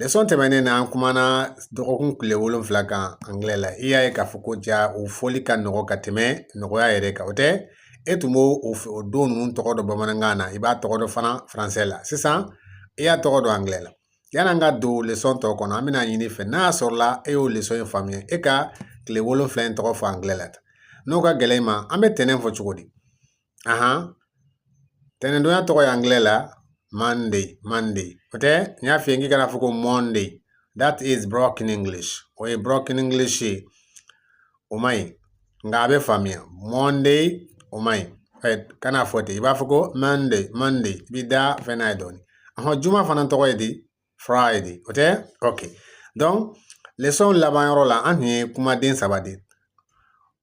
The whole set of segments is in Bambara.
Lesɔn tɛmɛnen na an kumana dɔgɔkun tile wolonfila kan angilɛ la i y'a ye k'a fɔ ko ja o fɔli ka nɔgɔ ka tɛmɛ nɔgɔya yɛrɛ kan o tɛ e tun b'o don ninnu tɔgɔ dɔn bamanankan na i b'a tɔgɔ dɔn fana faransɛ la sisan i y'a tɔgɔ dɔn angilɛ la yann'an ka don lesɔn tɔ kɔnɔ an bɛn'a ɲini i fɛ n'a y'a sɔrɔla e y'o lesɔn in faamuya e ka tile wolonfila in tɔgɔ fɔ angilɛ la n'o ka gɛlɛn i ma an bɛ tɛnɛn fɔ cogo di ahan tɛnɛndonya tɔgɔ ye angilɛ la monday monday o tɛ n y'a f'i ye k'i kana fɔ ko monday that is broken english o ye broken english ye o man ɲi nka a bɛ faamuya monday o man ɲi kana fɔ ten i b'a fɔ ko monday monday i b'i da fɛn n'a ye dɔɔnin ahɔn juma fana tɔgɔ ye di friday o tɛ ok donc lesɔn laban yɔrɔ la an tun ye kumaden saba de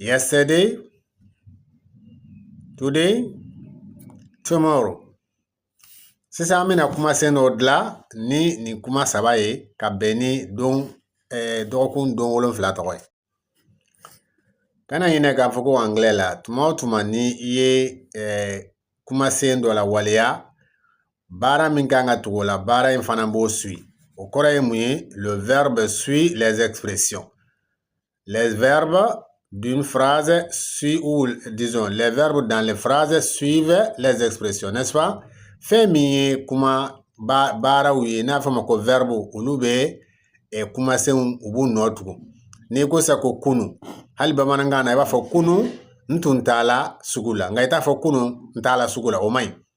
yesterday today tomorrow sisan an bɛna kumasen dɔ dilan ni nin kuma saba ye ka bɛn ni don eh, dɔgɔkun don wolonfila tɔgɔ ye kana ɲinɛ k'a fɔ ko angilɛ la tuma o tuma ni i ye eh, kumasen dɔ la waleya baara min ka kan ka tugu o la baara in fana b'o suit o kɔrɔ ye mun ye le verbe suit les expressions les verbes d'une phrase suit ou disons les verbes dans les phrases suivent les expressions n'est-ce pas fɛn min ye kuma baaraw ye n'a fɔ ma ko verbe olu bɛ ɛ kumasenw u b'u nɔ tugu n'i ko sa ko kunu hali bamanankan na i b'a fɔ kunu n tun taala sugu la nka i t'a fɔ kunu n taala sugu la o man ɲi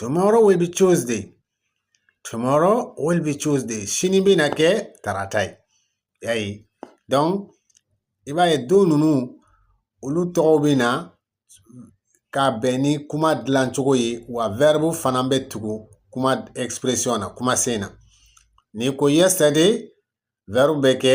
tomorrow will be tuesday tomorrow will be tuesday sini bɛna kɛ tarata ye y'a ye donc i b'a ye don ninnu olu tɔgɔw bɛ na ka bɛn ni kuma dilancogo ye wa verbe fana bɛ tugu kuma expression na kumasen na n'i ko yesterday verbe bɛ kɛ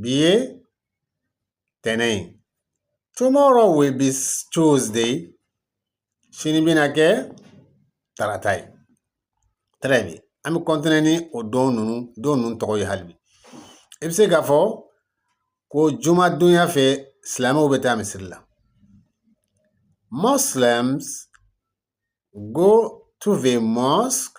bi ye tɛnɛn ye tomorrow will be tuesday sini bɛna kɛ tarata ye très bien an bɛ continuer ni o don ninnu tɔgɔ ye hali bi i bɛ se k'a fɔ ko jumadonya fɛ silamɛw bɛ taa misiri la muslims go to the mosque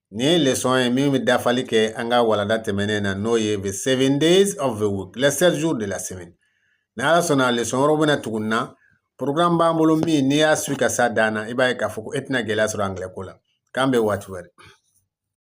Nin lesɔn ye min bɛ dafali kɛ an ka walanda tɛmɛnen na n'o ye the seven days of the week les sept jours de la semaine ni ala sɔnna lesɔn wɛrɛw bɛna tugu nin na programme b'an bolo min n'i y'a suit ka s'a dan na i b'a ye k'a fɔ ko e tɛna gɛlɛya sɔrɔ angilɛ ko la k'an bɛn waati wɛrɛ